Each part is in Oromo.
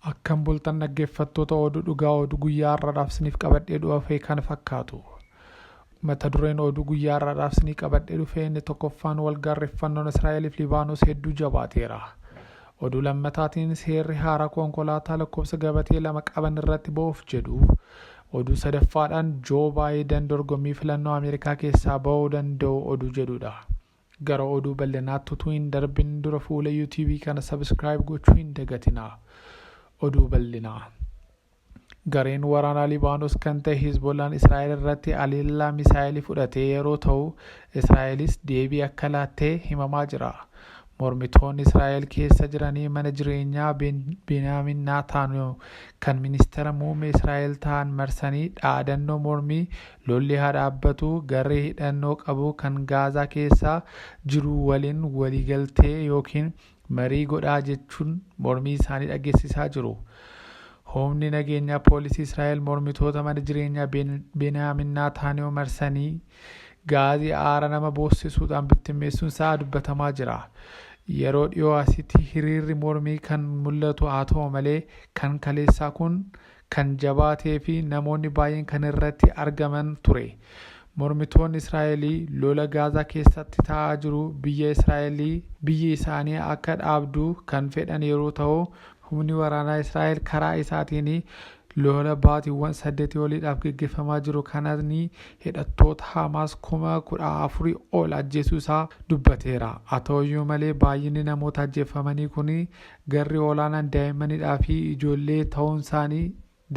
Akkam bultan dhaggeeffattoota oduu dhugaa oduu guyyaa har'aadhaaf isiniif qabadhee dhufe kan fakkaatu. Mata dureen oduu guyyaa har'aadhaaf isinii qabadhee dhufe inni tokkoffaan wal gaarreffannoon Israa'eliif Libaanos hedduu jabaateera. Oduu lammataatiin seerri haaraa konkolaataa lakkoofsa gabatee lama qaban irratti ba'uuf jedhu. Oduu sadaffaadhaan Joo Baayidan dorgommii filannoo Ameerikaa keessaa ba'uu danda'u oduu jedhudha. Gara oduu bal'inaatti utuu hin darbin dura fuula YouTube kana subscribe gochuu hin dagatinaa. Oduu bal'inaa. Gareen waraanaa Libaanos kan ta'e Hizbollaan Israa'el irratti haleellaa misaa'elii fudhatee yeroo ta'u, Israa'elis deebii akka laattee himamaa jira. Mormitoonni Israa'el keessa jiranii mana jireenyaa Beniyaamin Naataaniyoo kan ministeera muummee Israa'el ta'an marsanii dhaadannoo mormii Lolli haa dhaabbatu, garee hidhannoo qabu kan Gaazaa keessa jiru waliin waliigaltee yookiin marii godhaa jechuun mormii isaanii dhageessisaa jiru. Humni nageenyaa poolisii Israa'el mormitoota mana jireenyaa Beniyaamin Naataaniyoo marsanii gaazii aara nama boossisuudhaan bittimmeessuun isaa dubbatamaa jira. Yeroo dhiyoo asitti hiriirri mormii kan mul'atu haa ta'u malee kan kaleessaa kun kan jabaatee fi namoonni baay'een kan irratti argaman ture. Mormitoonni Israa'elii lola Gaazaa keessatti ta'aa jiru biyya Israa'elii biyyi isaanii akka dhaabdu kan fedhan yeroo ta'u, humni waraanaa Israa'el karaa isaatiin lola baatiiwwan saddeetii oliidhaaf geggeeffamaa jiru kanaan hidhattoota Hamaas kuma kudha afur ol ajjeesuu isaa dubbateera. Haa ta'uyyuu malee baay'inni namoota ajjeeffamanii kun Garri olaanaan daa'immanidhaa fi ijoollee ta'uunsaanii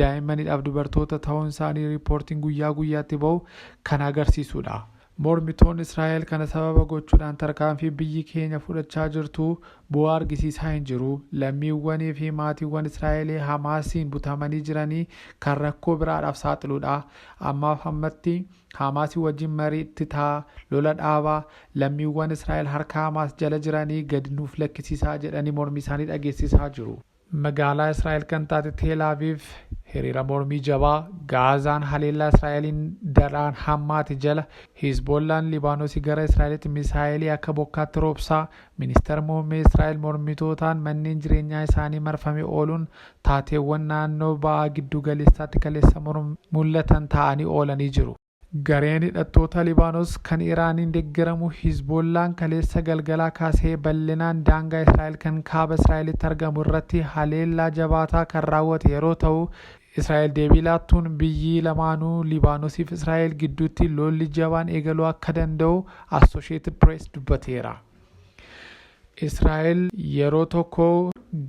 daa'immanidhaaf dubartoota ta'uunsaanii riippoortiin guyyaa guyyaatti ba'u kan agarsiisudha. Mormitoonni Israa'el kana sababa gochuudhaan tarkaanfii biyyi keenya fudhachaa jirtu bu'aa argisiisaa hin jiru, lammiiwwanii fi maatiiwwan Israa'elii Hamaasiin butamanii jiranii kan rakkoo biraadhaaf saaxiluudha, ammaaf ammatti Haamaasii wajjin mariitti taa, lola dhaabaa, lammiiwwan Israa'el harka Haamaas jala jiranii gadi nuuf lakkisiisaa jedhanii mormiisaanii dhageessisaa jiru. Magaalaa Israa'el kan taate Teel Aviiv hiriira mormii jabaa, Gaazaan haleellaa Israa'eliin daraan hammaate jala, Hizboollaan Libaanosii gara Israa'elitti misaa'elii akka bokkaatti roobsaa, Ministar Muummee Israa'el mormitootaan manneen jireenyaa isaanii marfame ooluun taateewwan naannoo Ba'a Giddu Galeessaatti kaleessa mul'atan taa'anii oolanii jiru. Gareen hidhattoota Libaanos kan Iraaniin deggeramu Hizboollaan kaleessa galgalaa kaasee bal'inaan daangaa Israa'el kan Kaaba Israa'elitti argamu irratti haleellaa jabaataa kan raawwate yeroo ta'u, Israa'el deebii laattuun biyyi lamaanuu Libaanosiif Israa'el gidduutti lolli jabaan eegaluu akka danda'u Associated Press dubbateera. Israa'el yeroo tokko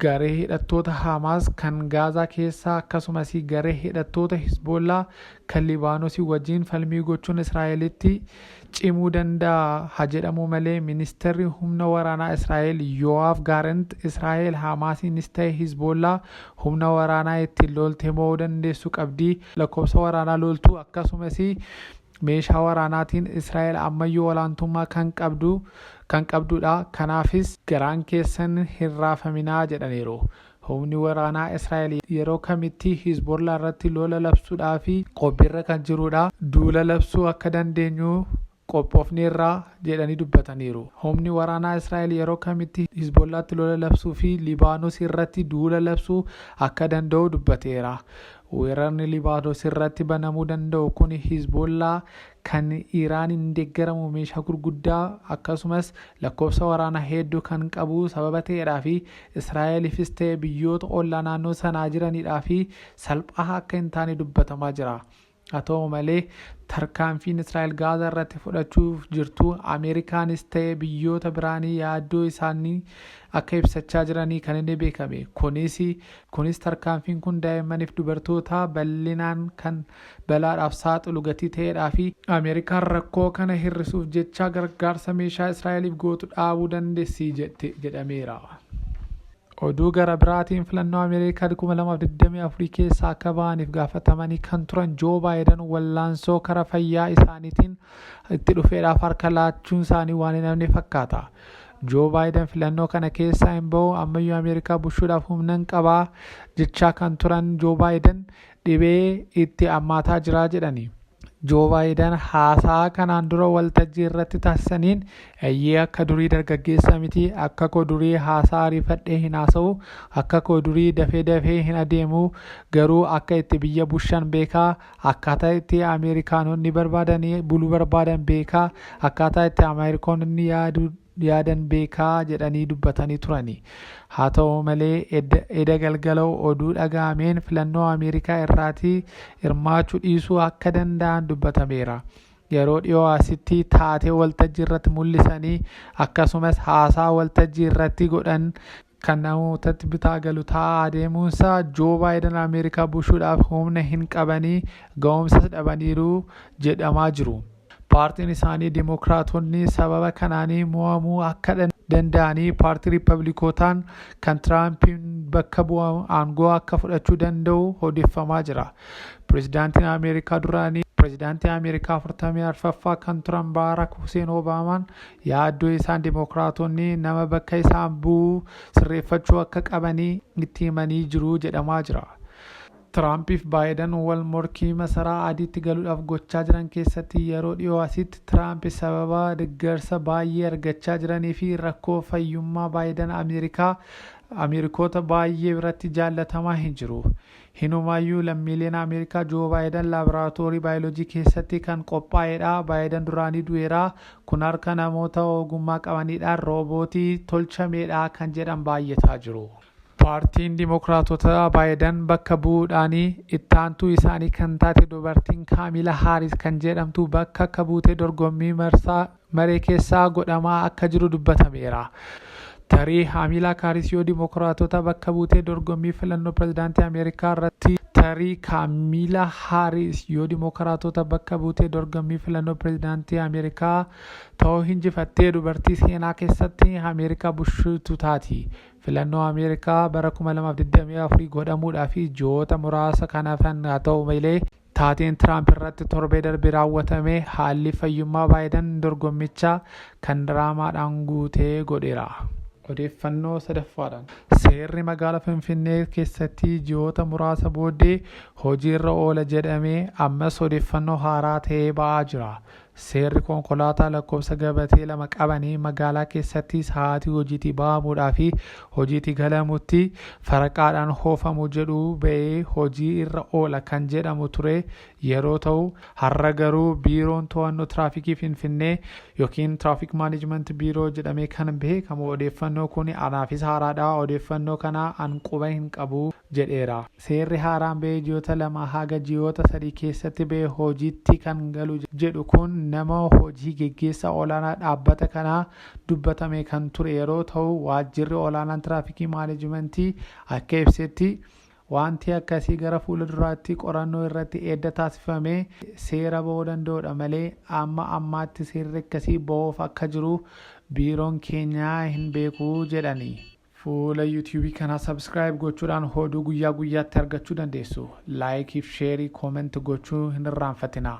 garee hidhattoota Haamaas kan Gaazaa keessaa akkasumas garee hidhattoota Hisboollaa kan Libaanosii wajjin falmii gochuun Israa'elitti cimuu danda'a ha jedhamuu malee Ministeerri Humna Waraanaa Israa'el Yo'aaf Gaarent Israa'el Haamaasiinis ta'e Hizboollaa humna waraanaa ittiin loolte mo'uu dandeessu qabdi, lakkoofsa waraanaa looltuu akkasumas meeshaa waraanaatiin Israa'el ammayyuu olaantummaa kan qabdu kan qabdudha, kanaafis garaan keessan hin raafaminaa jedhaniiru. Humni waraanaa Israa'el yeroo kamittii Hizbollaa irratti lola labsuudhaaf qophiirra kan jirudha. Duula labsuu akka dandeenyu qophoofneerra, jedhanii dubbataniiru. Humni waraanaa Israa'el yeroo kamitti Hizbollaatti lola labsuu fi Libaanos irratti duula labsuu akka danda'u dubbateera. Weerarni Libaanos irratti banamuu danda'u kun Hizboollaa kan Iraaniin deeggaramu meeshaa gurguddaa akkasumas lakkoofsa waraanaa hedduu kan qabu sababa ta'eedhaa fi Israa'eliifis ta'e biyyoota ollaa naannoo sanaa jiraniidhaa fi salphaa akka hin taane dubbatamaa jira. Haa ta'u malee tarkaanfiin Israa'el Gaazaa irratti fudhachuuf jirtu Ameerikaanis ta'e biyyoota biraanii yaaddoo isaanii akka ibsachaa jiranii kan inni beekame. Kunis Kunis tarkaanfiin kun daa'immaniif dubartoota bal'inaan kan balaadhaaf saaxilu gatii ta'eedhaa fi Ameerikaan rakkoo kana hir'isuuf jecha gargaarsa meeshaa Israa'eliif gootu dhaabuu dandeessi jette jedhameera. Oduu gara biraatiin filannoo Ameerikaa 2024 keessaa akka ba'aniif gaafatamanii kan turan Joo Baayidan wallaansoo kara fayyaa isaaniitiin itti dhufeedhaaf harka laachuun isaanii waan hin hafne fakkaata. Joo Baayidan filannoo kana keessaa hin bahu ammayyuu Ameerikaa bushuudhaaf humnan qaba jechaa kan turan Joo Baayidan dhibee itti ammaataa jira jedhani. Joo Baayidan haasaa kanaan dura waltajjii irratti taasisaniin eeyyee akka durii dargaggeessa miti akka koo durii haasaa ariifadhee hin haasa'u akka koo durii dafee dafee hin adeemu garuu akka itti biyya bushan beekaa Akkaataa itti Ameerikaanonni barbaadanii bulu barbaadan beekaa, akkaataa itti Ameerikaanonni yaadu yaadan beekaa jedhanii dubbatanii turani. Haa ta'u malee edda eda galgala oduu dhaga'ameen filannoo Ameerikaa irraati hirmaachuu dhiisuu akka danda'an dubbatameera. Yeroo dhiyoo asitti taatee waltajjii irratti mul'isanii akkasumas haasaa waltajjii irratti godhan kan namootatti bitaa galu taa'aa adeemuunsaa Joo Baayidan Ameerikaa bushuudhaaf humna hin qabanii ga'umsas dhabaniiru jedhamaa jiru. Paartiin isaanii Dimookiraatonni sababa kanaanii mo'amuu akka danda'anii paartii Riippablikotaan kan Tiraampiin bakka bu'amu aangoo akka fudhachuu danda'u odeeffamaa jira. Pirezidaantiin Ameerikaa duraanii Pirezidaantii Ameerikaa 44ffaa kan turan Baarak Huseen Obaamaan yaaddoo isaan Dimookiraatonni nama bakka isaan bu'u sirreeffachuu akka qabanii itti himanii jiru jedhamaa jira. Tiraampiif Baayidan wal morkii masaraa adiitti galuudhaaf gochaa jiran keessatti yeroo dhiyoo asitti Tiraamp sababa deeggarsa baay'ee argachaa jiranii fi rakkoo fayyummaa Baayidan Ameerikaa Ameerikoota baay'ee biratti jaallatamaa hin jiru. Hinumaayyuu lammiileen Ameerikaa Joo Baayidan laaboraatoorii baayoloojii keessatti kan qophaa'edha. Baayidan duraanii du'eera. Kun harka namoota ogummaa qabaniidhaan roobootii tolchameedha kan jedhan baay'ataa jiru. Paartiin Dimookiraatotaa Baayidan bakka bu'uudhaan ittaantuu isaanii kan taate dubartiin Kaamila Haaris kan jedhamtu bakka akka buutee dorgommii marsaa maree keessaa godhamaa akka jiru dubbatameera. Tarii Kaamilaa Kaaris yoo Dimookiraatota bakka buutee dorgommii filannoo pirezidaantii Ameerikaa irratti Tarii Kaamilaa Haaris yoo Dimookiraatota bakka buutee dorgommii filannoo pirezidaantii Ameerikaa ta'uu hinjifattee dubartii seenaa keessatti Ameerikaa bushuutu taati. Filannoo Ameerikaa bara 2024 godhamuudhaaf ji'oota muraasa kan hafan haa ta'u malee Taateen Tiraamp irratti torbee darbe raawwatame haalli fayyummaa Baayidan dorgommicha kan diraamaadhaan guute godheera. Odeeffannoo sadaffaadhaan. Seerri magaala Finfinnee keessatti ji'oota muraasa booddee hojiirra oola jedhame ammas odeeffannoo haaraa ta'ee ba'aa jira. Seerri konkolaataa lakkoofsa gabatee lama qabanii magaalaa keessatti sa'aatii hojiitii bahamuudhaa fi hojiitii galamutti faraqaadhaan hoofamu jedhu ba'ee hojii irra oola kan jedhamu ture yeroo ta'u har'a garuu biiroon to'annoo tiraafikii Finfinnee yookiin Tiraafik Maanejimenti Biiroo jedhamee kan beekamu odeeffannoo kun anaafis haaraadha odeeffannoo kana an quba hin qabu jedheera. Seerri haaraan ba'ee ji'oota lamaa haga ji'oota sadii keessatti ba'e hojiitti kan galu jedhu kun nama hojii geggeessaa olaanaa dhaabbata kanaa dubbatamee kan ture yeroo ta'u waajjirri olaanaan tiraafikii maanejimentii akka ibsetti waanti akkasii gara fuula duraatti qorannoo irratti edda taasifamee seera ba'uu danda'udha malee amma ammaatti seerri akkasii ba'uuf akka jiru biiroon keenyaa hin beeku jedhani. Fuula YouTube kanaa subscribe gochuudhaan hooduu guyyaa guyyaatti argachuu dandeessu. Like fi share comment gochuu hin irraanfatinaa.